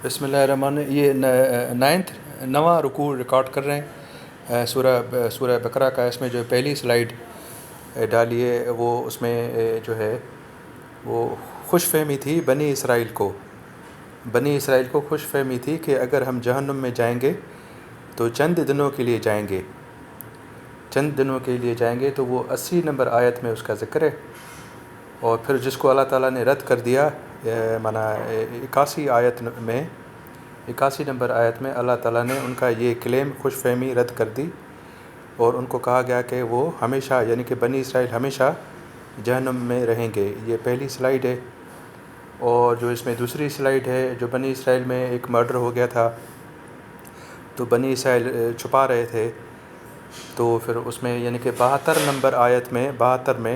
بسم الله الرحمن اهي نائنٿ نوان رڪوع رڪارڊ ڪر رهي هين سورا سورا بقره کا اس ۾ جو پهلي سلائيڊ ڊالي هي وو اس ۾ جو هي وو خوش فهمي ٿي بني اسرائيل ڪو بني اسرائيل ڪو خوش فهمي ٿي ڪي اگر هم جهنم ۾ جائين گي تو چند دنو ڪي ليه جائين گي چند دنو ڪي ليه جائين گي تو وو اسي نمبر آيت ۾ اس کا ذڪر هي. اور پھر جس ڪو الله تعاليٰ ني رد ڪر ديا معنيٰ اڪاسي آيت ۾ اڪاسي نمبر آيت ۾ الله تعاليٰ ني ان ڪا يي ڪليم خوش فھمي رد ڪر دي اور ان ڪو ڪھا گيا ڪي وو ھميشا يعني ڪي بني اسرائيل ھميشا جهنم مين رھين گي يي پهلي سلائيڊ ھي اور جو اس مين دوسري سلائيڊ ھي جو بني اسرائيل مين ھڪ مڙڊر ھو گيا ٿا تو بني اسرائيل ڇپا رھي ٿي تو پھر اس مين يعني ڪي بھاتر نمبر آيت ۾ بھاتر ۾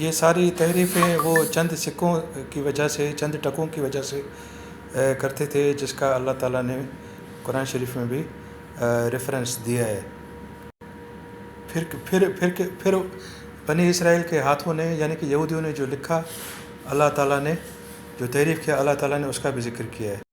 يي ساري تحريفين وو چند سڪون ڪي وجه سي چند ٽڪون ڪي وجه سي ڪرتي ٿي جس ڪا الله تعالي ني قرآن شريف مي بي ريفرنس ديا هي پھر پھر پھر پھر بني اسرائيل ڪي هاٿون ني يعني ڪي يهوديون ني جو لکا الله تعالي ني جو تحريف ڪيا الله تعالي ني اس ڪا بي ذڪر ڪيا هي.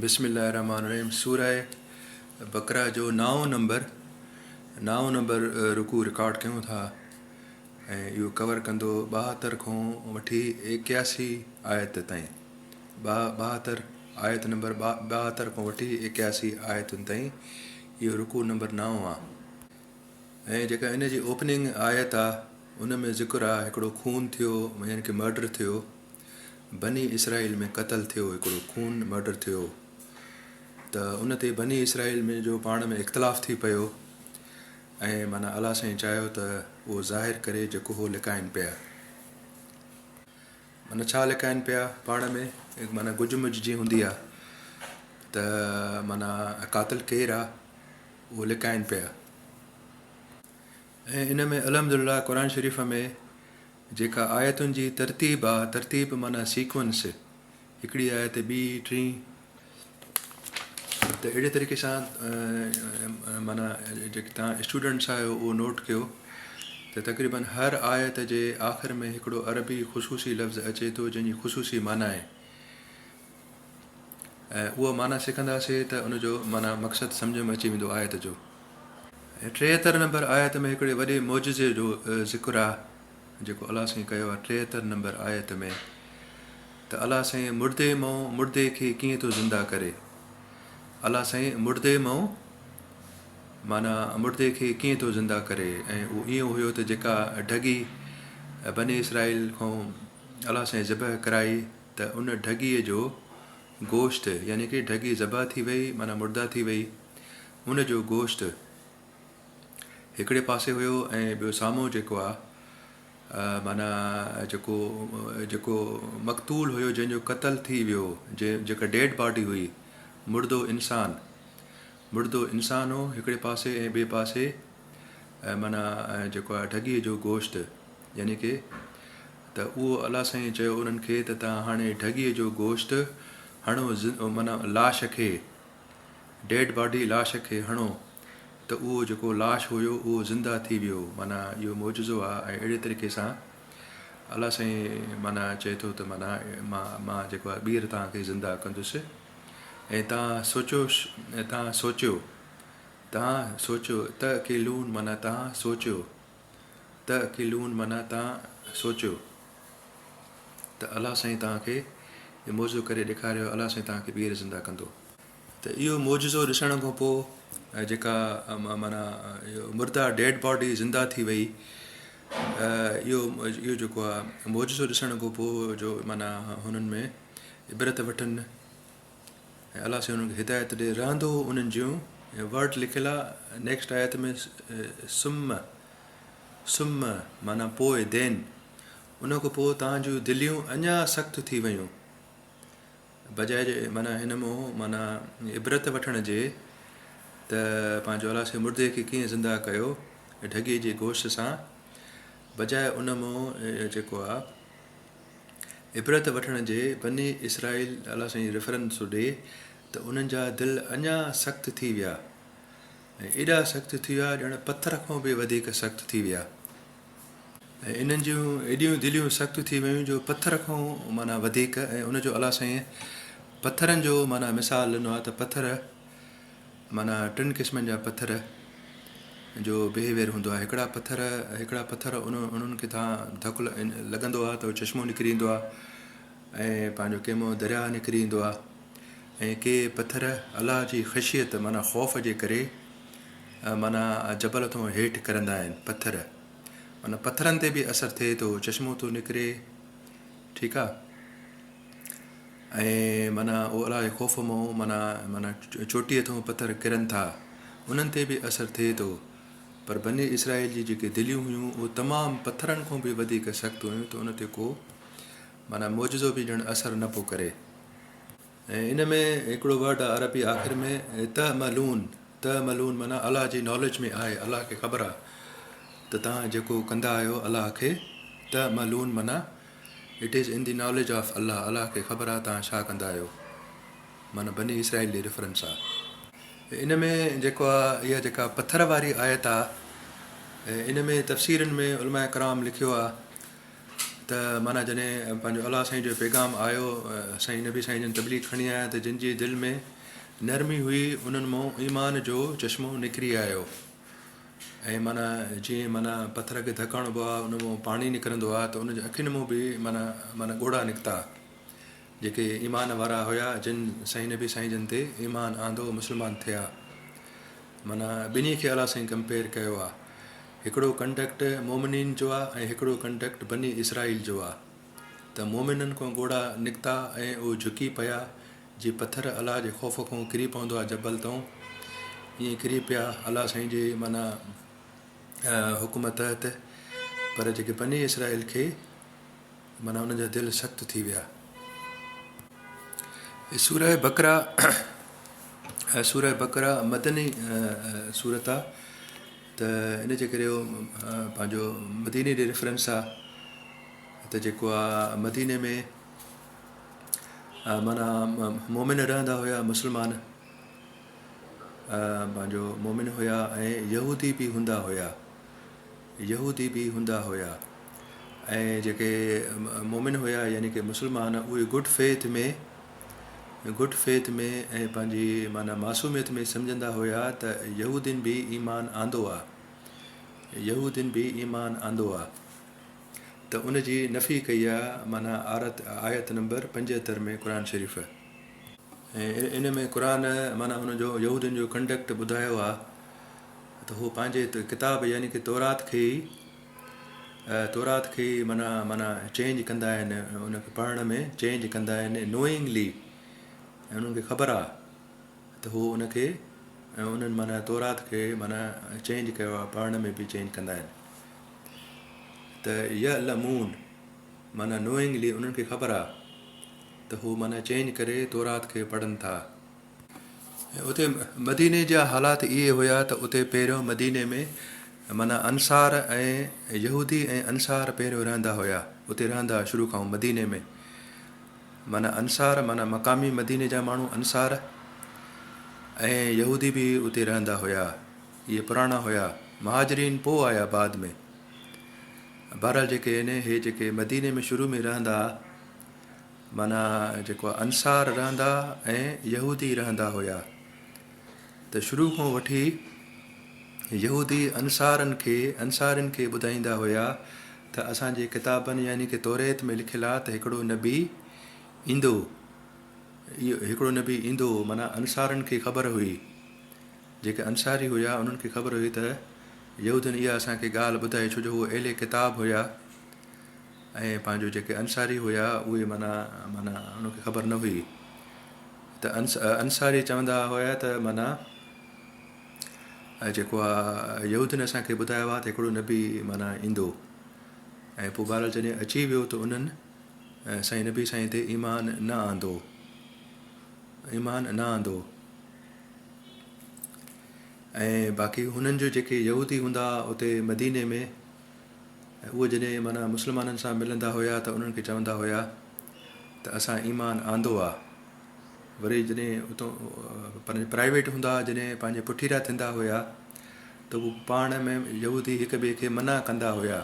بسم الله الرحمٰن الرحيم سوره بقره جو نائون نمبر نائون نمبر رڪوع رڪارڊ ڪيون ٿا ۽ اهو ڪور ڪندو ٻاهتر کان وٺي ايڪياسي آيت تائين ٻاهتر آيت نمبر ٻاهتر کان وٺي ايڪياسي آيتن تائين اهو رڪوع نمبر نائون آهي ۽ جيڪا هن جي اوپننگ آيت آ ان ۾ ذڪر آ هڪڙو خون ٿيو يعني ڪه مرڊر ٿيو بني اسرائيل ۾ قتل ٿيو هڪڙو خون مرڊر ٿيو ته ان تي بني اسرائيل ۾ جو پاڻ ۾ اختلاف ٿي پيو ۽ معنی الله سائين چاهيو ته اهو ظاهر ڪري جيڪو هو لڪائن پيا معنی ڇا لڪائن پيا پاڻ ۾ معنی گج مج جي هوندي آ ته معنی قاتل ڪير آ اهو لڪائين پيا ۽ ان ۾ الحمد لله قرآن شريف ۾ جيڪا آيتن جي ترتيب آ ترتيب معنيٰ سيڪوئنس هڪڙي آيت ٻي ٽين ته اهڙي طريقي سان معنيٰ جيڪي تان اسٽوڊنٽس آهيو اهو نوٽ ڪيو ته تقريبن هر آيت جي آخر ۾ هڪڙو عربي خصوصي لفظ اچي ٿو جنهن جي خصوصي معنيٰ آهي ۽ اهو معنيٰ سکنداسين ته ان جو معنيٰ مقصد سمجهه ۾ اچي ويندو آيت جو. ٽيهتر نمبر آيت ۾ هڪڙي وڏي معجزي جو ذڪر آ جيڪو الله سائين ڪيو آ ٽيهتر نمبر آيت ۾ ته الله سائين مڙدي مئو مڙدي کي ڪيئن ٿو زنده ڪري الله سائين مڙدي مئو معنيٰ مڙدي کي ڪيئن ٿو زنده ڪري ۽ اهو ايئن هيو ته جيڪا ڍڳي بني اسرائيل کان الله سائين ذبح ڪرائي ته ان ڍڳيء جو گوشت، يعني ڪي ڍڳي ذبح ٿي وئي، معنيٰ مرده ٿي وئي، ان جو گوشت هڪڙي پاسي هيو ۽ ٻيو سامهون جيڪو آ، معنيٰ جيڪو جيڪو مقتول هيو، جنهن جو قتل ٿي ويو، جيڪا ڊيڊ باڊي هئي، مردو انسان، مردو انسان هو هڪڙي پاسي ۽ ٻئي پاسي. ۽ معنيٰ ۽ جيڪو آهي ڍڳيء جو گوشت، يعني ڪي، ته اهو الله سائين چيو انهن کي ته توهان هاڻي ڍڳيء جو گوشت هڻو معنيٰ لاش کي، Dead Body، لاش کي هڻو ته اهو جيڪو لاش هيو اهو زنده ٿي ويو، معنيٰ اهو معجزو آهي ۽ اهڙي طريقي سان الله سائين معنيٰ چئي ٿو ته معنيٰ مان مان جيڪو آهي ٻيهر توهان کي زنده ڪندس ۽ توهان سوچيو توهان سوچيو تان سوچيو ته اڪيلون معنيٰ تان سوچيو ته اڪيلون معنيٰ تان سوچيو ته الله سائين توهان کي هي معجزو ڪري ڏيکاريو آهي الله سائين توهان کي ٻيهر زنده ڪندو. ته اهو معجزو ڏسڻ کان پوء جيڪا معنيٰ مرده ڊيڊ باڊي زنده ٿي وئي اهو اهو جيڪو آهي معجزو ڏسڻ کان پوء جو معنيٰ هنن ۾ عبرت وٺن. ۽ الله سائين انهن کي هدايت ڏئي. رهندو هو انهن جون ۽ ورڊ لکيل آ نيڪسٽ آيت ۾ ثم ثم معنيٰ پوء دين ان کان پوء توهان جون دليون اڃا سخت ٿي ويون بجاء جي معنيٰ هن مون معنيٰ عبرت وٺڻ جي ته پنهنجو الله سائين مردي کي ڪيئن زنده ڪيو ڍڳي جي گوشت سان بجاء ان مون جيڪو آ عبرت وٺڻ جي بني اسرائيل الله سائين ريفرنس ٿو ڏي ته انهن جا دل اڃا سخت ٿي ويا ۽ ايڏا سخت ٿي ويا ڄڻ پٿر کان به وڌيڪ سخت ٿي ويا ۽ انهن جون ايڏيون دليون سخت ٿي ويون جو پٿر کان معنيٰ وڌيڪ ۽ ان جو الله سائين پٿرن جو معنيٰ مثال ڏنو آهي ته پٿر معنيٰ ٽن قسمن جا پٿر جو بيهيويئر هوندو آهي هڪڙا پٿر هڪڙا پٿر انهن کي ٿان ڌڪ لڳندو آهي ته اهو چشمو نڪري ايندو آهي ۽ پنهنجو ڪيمو درياهه نڪري ايندو آهي ۽ ڪي پٿر الله جي خشيت معنيٰ خوف جي ڪري معنيٰ جبل ٿون هيٺ ڪرندا آهن پٿر معنيٰ پٿرن تي به اثر ٿئي ٿو چشمو ٿو نڪري ٺيڪ آهي ۽ معنيٰ او الله جي خوف مئون معنيٰ معنيٰ چوٽيء ٿئون پٿر ڪرن ٿا، انهن تي به اثر ٿئي ٿو. پر بني اسرائيل جي جيڪي دليون هيون اهي تمام پٿرن کون به وڌيڪ سخت هيون ته ان تي ڪو معنيٰ معجزو به ڄڻ اثر نه پيو ڪري. ۽ ان ۾ هڪڙو ورڊ آهي عربي آخر ۾ تهه ملون، تهه ملون معنيٰ الله جي ناليج ۾ آهي، الله کي خبر آهي ته توهان جيڪو ڪندا آهيو الله کي تهه ملون معنيٰ It is in the knowledge of Allah، الله کي خبر آهي توهان ڇا ڪندا آهيو، معنيٰ بني اسرائيل ڏي ريفرنس آ. ان ۾ جيڪو آ اها جيڪا پٿر واري آيت آ ان ۾ تفسيرن ۾ علماء ڪرام لکيو آ ته معنيٰ جڏهن پنهنجو الله سائين جو پيغام آيو سائين نبي سائين جن تبليغ کڻي آيا ته جن جي دل ۾ نرمي هئي انهن مون ايمان جو چشمو نکري آيو. ۽ معنيٰ جيئن معنيٰ پٿر کي ڌڪ هڻبو آهي ان مان پاڻي نڪرندو آهي ته ان جي اکين مان به معنيٰ معنيٰ ڳوڙها نڪتا جيڪي ايمان وارا هيا جن سائين نبي سائين جن تي ايمان آندو مسلمان ٿيا معنيٰ ٻنهي کي الله سائين ڪمپيئر ڪيو آهي هڪڙو ڪنڊڪٽ مومنين جو آهي ۽ هڪڙو ڪنڊڪٽ بني اسرائيل جو آهي ته مؤمنن کان ڳوڙها نڪتا ۽ اهي جهڪي پيا، جي پٿر الله جي خوف کان ڪري پوندو آهي جبل تان، ائين ڪري پيا الله سائين جي معنيٰ حڪم تحت، پر جيڪي بني اسرائيل کي معنيٰ انهن جا دل سخت ٿي ويا. سوره بقره ۽ سوره بقره مدني سورت آ ته ان جي ڪري پنهنجو مديني ڏي ريفرنس آ. ته جيڪو آ مديني ۾ معنيٰ مؤمن رهندا هيا مسلمان پنهنجو مؤمن هيا ۽ يهودي به هوندا هيا يهودي به هوندا هيا ۽ جيڪي مؤمن هيا يعني ڪي مسلمان اهي گڊ فيٿ ۾ گڊ فيٿ ۾ ۽ پنهنجي معنيٰ معصوميت ۾ سمجهندا هيا ته يهودين به ايمان آندو آ يهودين به ايمان آندو آ ته ان جي نفي ڪئي آ معنيٰ آرت آيت نمبر پنجهتر ۾ قرآن شريف ۽ ان ۾ قرآن معنيٰ ان جو يهودين جو ڪنڊڪٽ ٻڌايو آ ته هو پنهنجي ڪتاب يعني ڪي تورات کي ئي تورات کي ئي معنيٰ معنيٰ چينج ڪندا آهن ان کي پڙهڻ ۾ چينج ڪندا آهن نوئنگلي ۽ انهن کي خبر آ ته هو ان کي انهن معنيٰ تورات کي معنيٰ چينج ڪيو آ پڙهڻ ۾ به چينج ڪندا آهن ته يعلمون معنيٰ Knowingly انهن کي خبر آ ته هو معنيٰ چينج ڪري تورات کي پڙهن ٿا. ۽ اتي مديني جا حالات اهي هيا ته اتي پهريون مديني ۾ معنيٰ انصار ۽ يهودي ۽ انصار پهريون رهندا هيا اتي رهندا هيا شروع کان مديني ۾ معنيٰ انصار معنيٰ مقامي مديني جا ماڻهو انصار ۽ يهودي به اتي رهندا هيا. اهي پراڻا هيا مهاجرين پوء آيا بعد ۾ بهرحال جيڪي آهن اهي جيڪي مديني ۾ شروع ۾ رهندا ها معنيٰ جيڪو انصار رهندا ۽ يهودي رهندا هيا ته شروع کان وٺي يهودي انصارن کي انصارين کي ٻڌائيندا هيا ته اسانجي ڪتابن يعني ڪي توريت ۾ لکيل آ ته هڪڙو نبي ايندو هڪڙو نبي ايندو معنيٰ انصارن کي خبر هئي جيڪي انصاري هيا انهن کي خبر هئي ته يهودين اها اسان کي ڳالهه ٻڌائي ڇو جو هو اهل ڪتاب هيا ۽ پنهنجو جيڪي انصاري هيا اهي معنيٰ معنيٰ انهن کي خبر نه هئي ته انصاري چوندا هيا ته معنيٰ جيڪو آهي يهودين اسان کي ٻڌايو آهي ته هڪڙو نبي معنيٰ ايندو ۽ پوء بهرحال جڏهن اچي ويو ته انهن سائين نبي سائين تي ايمان نه آندو ايمان نه آندو ۽ باقي هنن جو جيڪي يهودي هوندا ها اتي مديني ۾ اهي جڏهن معنيٰ مسلمانن سان ملندا هيا ته انهن کي چوندا هيا ته اسان ايمان آندو آ وري جڏهن اتون پنهنجي پرائيويٽ هوندا ها جڏهن پنهنجي پٺيرا ٿيندا هيا ته هو پاڻ ۾ يهودي هڪ ٻئي کي منع ڪندا هيا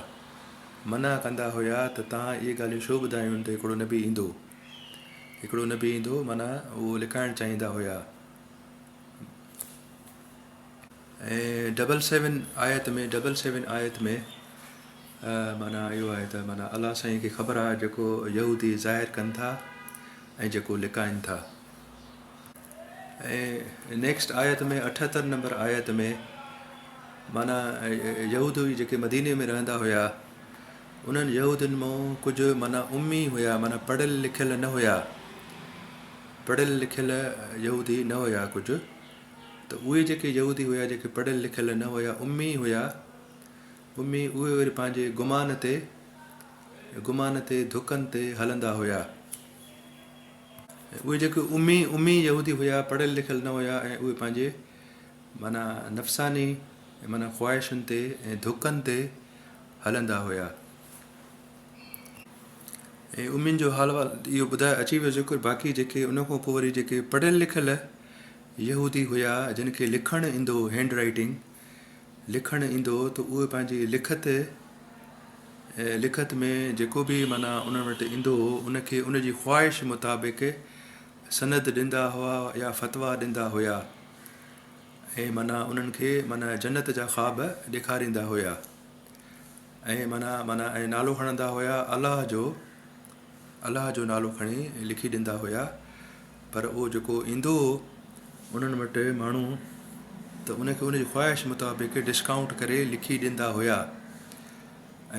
منع ڪندا هيا ته توهان اهي ڳالهيون ڇو ٻڌايون ته هڪڙو نبي ايندو هڪڙو نه بيهندو معنيٰ اهو لڪائڻ چاهيندا هيا ۽ ڊبل سيون آيت ۾ ڊبل سيون آيت ۾ معنيٰ اهو آهي ته معنيٰ الله سائين کي خبر آهي جيڪو يهودي ظاهر ڪن ٿا ۽ جيڪو لڪائن ٿا ۽ نيڪسٽ آيت ۾ اٺهتر نمبر آيت ۾ معنيٰ يهود هئي جيڪي مديني ۾ رهندا هيا انهن يهودين مون ڪجهه معنيٰ امي هيا معنيٰ پڙهيل لکيل نه هيا پڙهيل لکيل يهودي نه هيا ڪجهه ته اهي جيڪي يهودي هيا جيڪي پڙهيل لکيل نه هيا امي هيا امي اهي وري پنهنجي گمان تي گمان تي ڌڪن تي هلندا هيا اهي جيڪي امي امي يهودي هيا، پڙهيل لکيل نه هيا ۽ اهي پنهنجي معنيٰ نفساني معنيٰ خواهشن تي ۽ ڌڪن تي هلندا هيا ۽ امين جو حال احوال اهو ٻڌايو اچي ويو ذڪر باقي جيڪي ان کان پوء وري جيڪي پڙهيل لکيل يهودي هيا جن کي لکڻ ايندو هو Hand Writing لکڻ ايندو هو ته اهي پنهنجي لکت لکت ۾ جيڪو به معنيٰ انهن وٽ ايندو هو ان کي ان جي خواهش مطابق سند ڏيندا هئا يا فتويٰ ڏيندا هيا ۽ معنيٰ انهن کي معنيٰ جنت جا خواب ڏيکاريندا هيا ۽ معنيٰ معنيٰ ۽ نالو کڻندا هيا الله جو الله جو نالو کڻي لکي ڏيندا هيا پر اهو جيڪو ايندو هو انهن وٽ ماڻهو ته ان کي ان جي خواهش مطابق ڊسڪائونٽ ڪري لکي ڏيندا هيا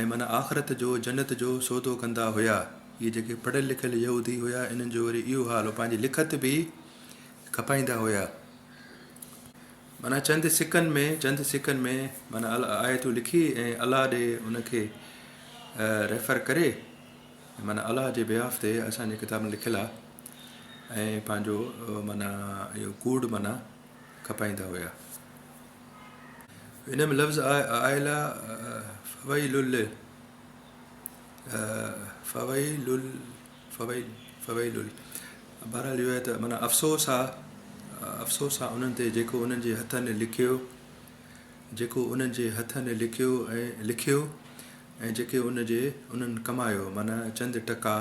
۽ من آخرت جو جنت جو سودو ڪندا هيا اهي جيڪي پڙهيل لکيل يهودي هيا انهن جو وري اهو حال هو پنهنجي لکت به کپائيندا هيا من چند سڪن ۾ چند سڪن ۾ من آيتون لکي ۽ الله ڏي ان کي ريفر ڪري معنيٰ الله جي بيهاف تي اسان جي ڪتاب ۾ لکيل آ ۽ پنهنجو معنيٰ اهو ڪوڙ معنيٰ کپائيندا هيا. ان ۾ لفظ آيل آ فويل لل فويل لل فويل فويل لل بهرحال اهو آهي ته معنيٰ افسوس آ افسوس آ انهن تي جيڪو انهن جي هٿن لکيو جيڪو انهن جي هٿن لکيو ۽ لکيو ۽ جيڪي ان جي انهن ڪمايو، معنيٰ چند ٽڪا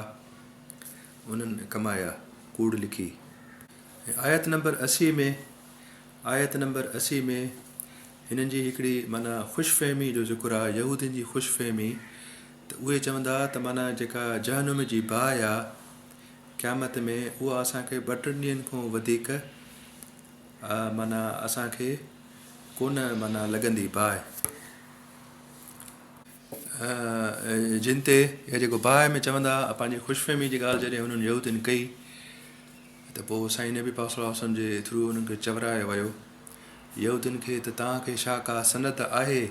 انهن ڪمايا، ڪوڙ لکي. ۽ آيت نمبر اسي ۾، آيت نمبر اسي ۾، هنن جي هڪڙي معنيٰ خوش فهمي جو ذڪر آهي، يهودين جي خوش فهمي، ته اهي چوندا ته معنيٰ جيڪا جهنم جي باهه آ قيامت ۾، اها اسان کي ٻه ٽن ڏينهن کان وڌيڪ معنيٰ اسان کي ڪونه معنيٰ لڳندي باهه. جن تي يا جيڪو باهه ۾ چوندا ها پنهنجي خوش فهمي جي ڳالهه جڏهن انهن يهودين ڪئي ته پوء سائين نبي پاڪ صلي الله وسلم جي ٿرو انهن کي چورايو ويو يهودين کي ته توهان کي ڇا ڪا سند آهي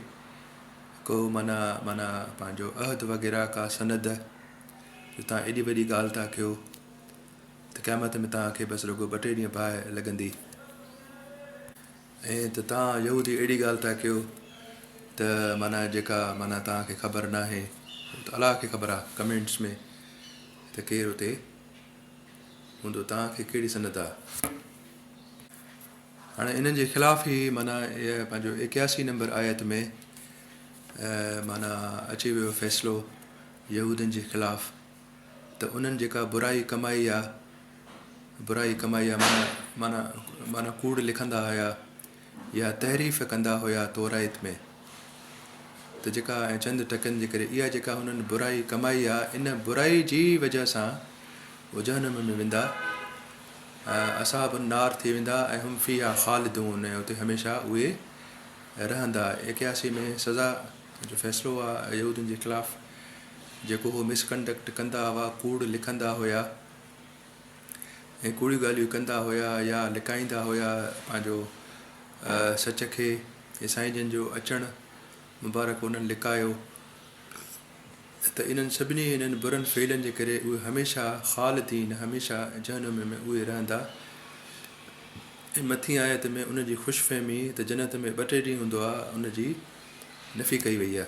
ڪو معنيٰ معنيٰ پنهنجو عهد وغيره ڪا سند جو توهان ايڏي وڏي ڳالهه ٿا ڪيو ته قيامت ۾ توهان کي بس رڳو ٻه ٽي ڏينهن باهه لڳندي ائين ته توهان يهودي اهڙي ڳالهه ٿا ڪيو ته معنيٰ جيڪا معنيٰ توهان کي خبر ناهي هو ته الله کي خبر آهي ڪمينٽس ۾ ته ڪير اتي هوندو توهان کي ڪهڙي سنت آهي. هاڻي انهن جي خلاف هي معنيٰ اهي پنهنجو ايڪياسي نمبر آيت ۾ معنيٰ اچي ويو فيصلو يهودين جي خلاف. ته انهن جيڪا برائي ڪمائي آ، برائي ڪمائي آ معنيٰ معنيٰ معنيٰ ڪوڙ لکندا هيا يا تحريف ڪندا هيا تورائيت ۾ ته جيڪا ۽ چند ٽڪن جي ڪري اها جيڪا هنن برائي ڪمائي آ ان برائي جي وجه سان هو جهنم ۾ ويندا اصحاب النار ٿي ويندا ۽ هم فيها خالدون ۽ اتي هميشه اهي رهندا اڪياسي ۾ سزا جو فيصلو آ يهودين جي خلاف جيڪو هو مس ڪنڊڪٽ ڪندا هئا، ڪوڙ لکندا هيا ۽ ڪوڙيون ڳالهيون ڪندا هيا يا لڪائيندا هيا پنهنجو سچ کي ۽ سائين جن جو اچڻ مبارڪ انهن لڪايو ته انهن سڀني انهن برن فعلن جي ڪري اهي هميشه خالدين هميشه جهنم ۾ اهي رهندا ۽ مٿين آيت ۾ ان جي خوش فهمي ته جنت ۾ ٻه ٽي ڏينهن هوندو آهي ان جي نفي ڪئي وئي آهي.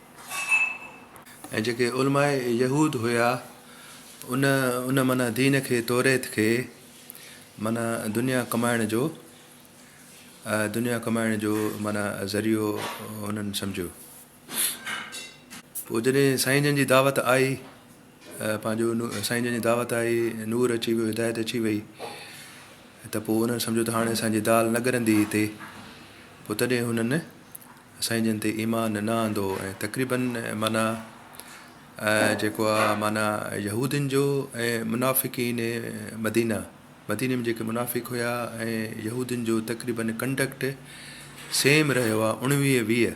۽ جيڪي علماء يهود هيا ان ان معنيٰ دين کي توريت کي معنيٰ دنيا ڪمائڻ جو دنيا ڪمائڻ جو معنيٰ ذريعو هنن سمجهيو پوء جڏهن سائين جن جي دعوت آئي پنهنجو سائين جن جي دعوت آئي نور اچي ويو هدايت اچي وئي ته پوء هنن سمجهيو ته هاڻي اسان جي دال نه ڳرندي هتي پوء تڏهن هنن سائين جن تي ايمان نه آندو ۽ تقريباً معنيٰ جيڪو آ معنيٰ يهودين جو ۽ منافقين مدينه، مديني ۾ جيڪي منافق هيا ۽ يهودين جو تقريباً ڪنڊڪٽ سيم رهيو آ اڻويهه ويهه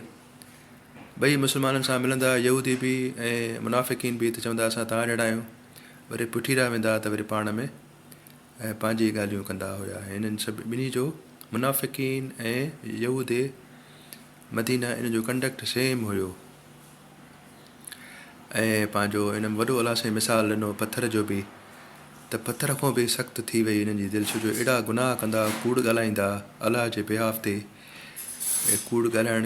ٻئي مسلمانن سان ملندا يهودي به ۽ منافقين به ته چوندا اسان توهان جهڙا آهيون وري پٺيرا ويندا ته وري پاڻ ۾ ۽ پنهنجي ڳالهيون ڪندا هيا. هنن ٻنهي جو، منافقين ۽ يهودي مدينه، ان جو ڪنڊڪٽ سيم هيو ۽ پنهنجو ان ۾ وڏو الاسين مثال ڏنو پٿر جو به ته پٿر کان به سخت ٿي وئي هنن جي دل، ڇو جو اهڙا گناهه ڪندا، ڪوڙ ڳالهائيندا، الله جي بيهاف تي ڪوڙ ڳالهائڻ،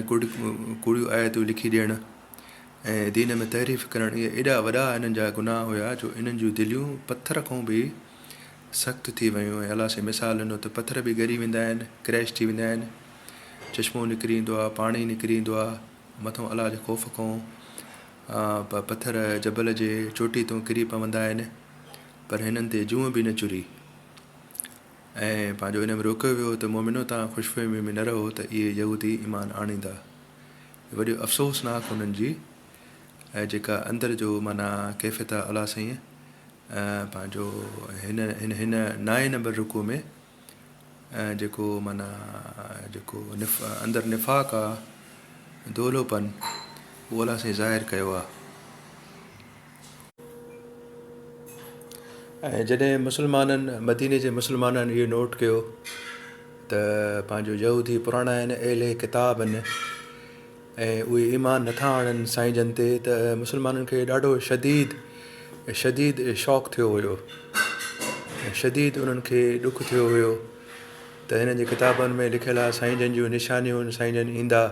ڪوڙيون آيتون لکي ڏيڻ، ۽ دين ۾ تحريف ڪرڻ اهي ايڏا وڏا انهن جا گناهه هيا جو انهن جون دليون پٿر کان به سخت ٿي ويون ۽ الله سائين مثال ڏنو ته پٿر به ڳري ويندا آهن ڪريش ٿي ويندا آهن چشمو نڪري ايندو آهي پاڻي نڪري ايندو آهي مٿان الله جي خوف کان پٿر جبل جي چوٽي تان ڪري پوندا آهن پر هنن تي جون به نه چري ۽ پنهنجو ان ۾ روڪيو ويو ته مومنو تان خوش فهمي ۾ نه رهو ته اهي يهودي ايمان آڻيندا وڏيو افسوس ناڪ انهن جي اهي جيڪا اندر جو معنيٰ ڪيفيت آهي الله سائين پنهنجو هن هن هن نائين نمبر رڪوع ۾ جيڪو معنيٰ جيڪو نف اندر نفاق آهي دولو پن اهو الله سائين ظاهر ڪيو آهي. ۽ جڏهن مسلمانن، مديني جي مسلمانن، اهو نوٽ ڪيو ته پنهنجو يهودي پراڻائن اهل ڪتاب آهن ۽ اهي ايمان نه ٿا آڻن سائين جن تي ته مسلمانن کي ڏاڍو شديد شديد شاڪ ٿيو هيو ۽ شديد انهن کي ڏک ٿيو هيو ته هنن جي ڪتابن ۾ لکيل آهي سائين جن جون نشانيون سائين جن ايندا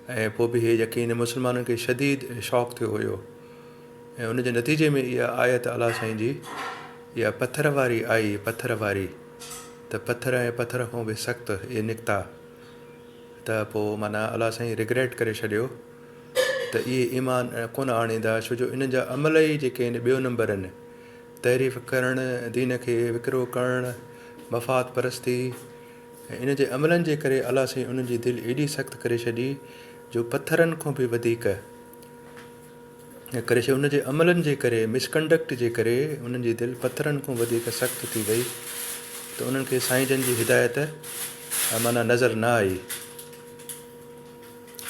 ۽ پوء به هيء يقين مسلمانن کي شديد شاڪ ٿيو هيو ۽ ان جي نتيجي ۾ اها آيت الله سائين جي اها پٿر واري آئي، پٿر واري، ته پٿر ۽ پٿر کان به سخت اهي نڪتا ته پوء معنيٰ الله سائين رگريٽ ڪري ڇڏيو ته اهي ايمان ڪونه آڻيندا ڇو جو انهن جا عمل ئي جيڪي آهن ٻيو نمبر آهن، تحريف ڪرڻ، دين کي وڪرو ڪرڻ، مفاد پرستي. ۽ ان جي عملن جي ڪري الله سائين انهن جي دل ايڏي سخت ڪري ڇڏي جو پٿرن کان به وڌيڪ ڪري ڇڏي، انهن جي عملن جي ڪري، Misconduct، جي ڪري انهن جي دل پٿرن کان وڌيڪ سخت ٿي وئي ته انهن کي سائين جن جي هدايت معنيٰ نظر نه آئي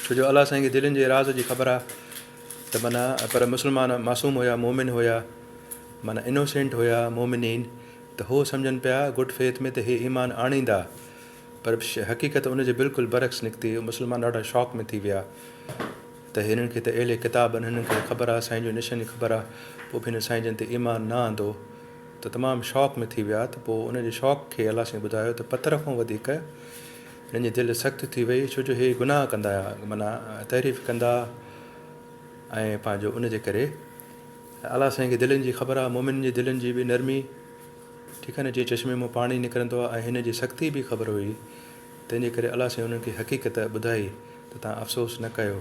ڇو جو الله سائين کي دلين جي راز جي خبر آ ته معنيٰ پر مسلمان معصوم هيا، مؤمن هيا معنيٰ Innocent هيا، مؤمنين، ته هو سمجهن پيا گڊ فيٿ ۾ ته هي ايمان آڻيندا پر حقيقت ان جي بلڪل برعڪس نڪتي، مسلمان ڏاڍا شاڪ ۾ ٿي ويا ته هنن کي ته اهلي ڪتاب آهن هنن کي ته خبر آهي سائين جون نشانيون خبر آهي پوء به هنن سائين جن تي ايمان نه آندو ته تمام شاڪ ۾ ٿي ويا ته پوء ان جي شاڪ کي الله سائين ٻڌايو ته پٿر کان وڌيڪ هنن جي دل سخت ٿي وئي ڇو جو هي گناهه ڪندا معنيٰ تحريف ڪندا ۽ پنهنجو ان جي ڪري الله سائين کي دلين جي خبر آ، مومنن جي دلين جي به نرمي، ٺيڪ آ نه، جيئن چشمي مان پاڻي نڪرندو آ، ائين هن جي سختي به خبر هئي، تنهن جي ڪري الله سائين انهن کي حقيقت ٻڌائي ته توهان افسوس نه ڪيو.